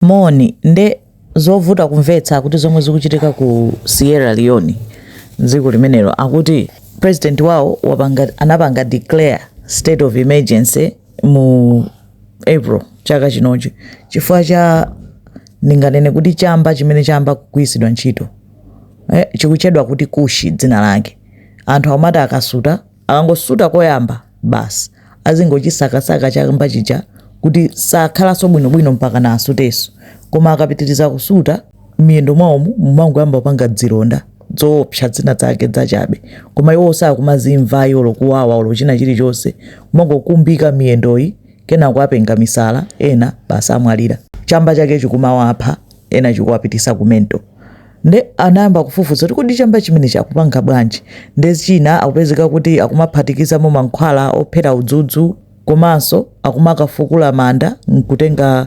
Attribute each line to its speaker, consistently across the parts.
Speaker 1: Moni, nde zovuta kumvetsa kuti zomwe zikuchitika ku Sierra Leone dziko limenelo akuti president wawo wapanga, anapanga declare state of emergency mu April chaka chinochi chifukwa cha ndinganene kuti chamba chimene chayamba kugwiritsidwa ntchito eh, chikutchedwa kuti kushi dzina lake anthu amati akasuta Akangosuta koyamba, basi azingochisakasaka chamba chija kuti sakhalanso bwinobwino mpakana asutenso. Koma akapitiriza kusuta, m'miyendo mwawomu mumangoyamba kupanga dzilonda dzoopsa dzina zake dzachabe. Koma iwowo sakumazimva ayi olo kuwawa olo china chilichonse. Kumangokumbika miyendoyi, kenako apenga misala, ena basi amwalira. Chamba chake chikumawapha, ena chikuwapitisa ku mental. nde anayamba kufufuza kuti kodi chamba chimenechi akupanga bwanji nde china chikupezeka kuti akumaphatikizamo mankhwala ophera udzudzu komanso akumakafukula manda nkutenga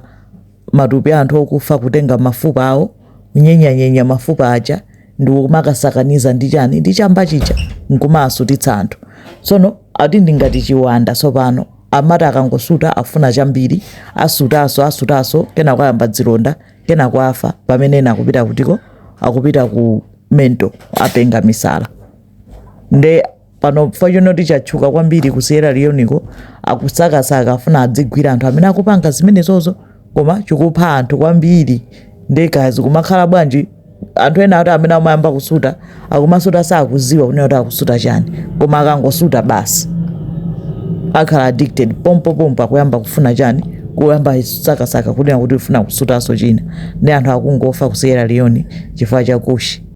Speaker 1: matupi a anthu okufa kutenga mafupa awo kunyenyanyenya mafupa aja ndi kumakasakaniza ndi chani ndi chamba chija nkumawasutitsa anthu tsono ati ndi ngati chiwanda tsopano amati akangosuta afuna chambiri asutaso asutaso kenako ayamba dzilonda kenako afa pamene ena akupita kutiko akupita ku mental apenga misala nde pano chifukwa chonena kuti chatchuka kwambiri ku sierra leoneko akusakasaka afuna azigwira anthu amene akupanga zimenezozo koma chikupha anthu kwambiri ndekazi kumakhala bwanji anthu ena ati amene amayamba kusuta akumasuta sakuziwa kunena kuti akusuta chani koma akangosuta basi akhala addicted pompo pompo akuyamba kufuna chani kuyamba sakasaka kunena kuti ufuna kusutaso china nde anthu akungofa ku sierra leone chifukwa cha kushi